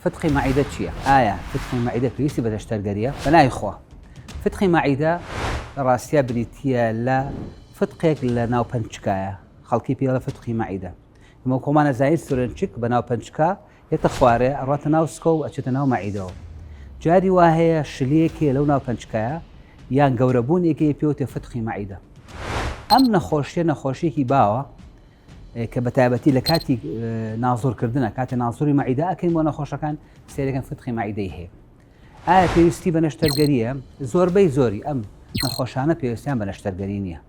فتقی مەعیدە چیە؟ ئایا فتقی مەعیدە پێویستی بە دەشتەرگەریە؟ پەنای خوا فتقی مەعیدە لە ڕاستیا بریتیە لە فتقێک لە ناو پەنچکایە خەڵکی پێی دەڵێن فتقی مەعیدە ئێمە خۆمان ئەزانین سورێنچک بە ناو پەنچکا یەتە خوارێ ئەڕاتە ناو سکە و ئەچێتە ناو مەعیدەوە جاری وا هەیە شلەیەکێ لەو ناو پەنچکایە یان گەورەبوونێکی پێوتێ فتقی مەعیدە ئەم نەخۆشیە نەخۆشیێکی باوە کە بە تایبەتی لە کاتی نازۆرکردنە کاتێ نازۆری مەعیدا ئەکەین بۆ نەخۆشەکان سێرەکەن فتقی مەعیدەی هەیە ئایا پێویستی بە نەشتەرگەریە زۆربەی زۆری ئەم نەخۆشانە پێویستیان بە نەشتەرگەری نییە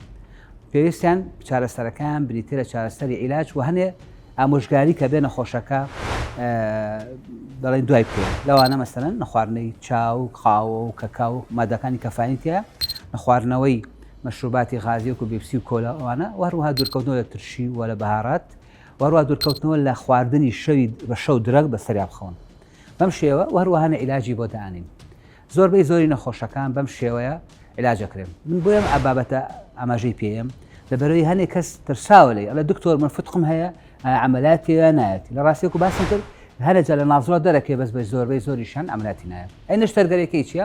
پێویستیان چارەسەرەکان بریتە لە چارەسەری عیلاج و هەنێ ئامۆژگاری کە بێ نەخۆشەکە دەڵێن دوای پێ لەوانە مەسەرەن نەخواردنەی چاو قاوە و کەکاو مادەکانی کەفانیتە نەخواردنەوەی مەشروباتی غازی وەکو بێپسی و کۆلا و ئەوانە و هەروەها دورکەوتنەوە لە ترشی و لە بەهارات و هەروەها دورکەوتنەوە لە خواردنی شەوی بە شەو درەگ بە سەریا بخەون بەم شێوە و هەروەها نە ئیلاجی بۆ دانین زۆربەی زۆری نەخۆشەکان بەم شێوەیە ئیلاج ئەکرێن من بۆیەم ئە بابەتە ئاماژەی پێیەم لەبەرەوەی هەنێ کەس ترساوە لێی ئەڵێ دکتۆر من فتقم هەیە عملیات پێوە نایەت لە ڕاستی وەکو باسم کرد هەرە جا لە نازڵە دەرەکەی بەس بە زۆربەی زۆریشان ئەمراتی نایەت ئەی نەشتەرگەرەکەی چیە؟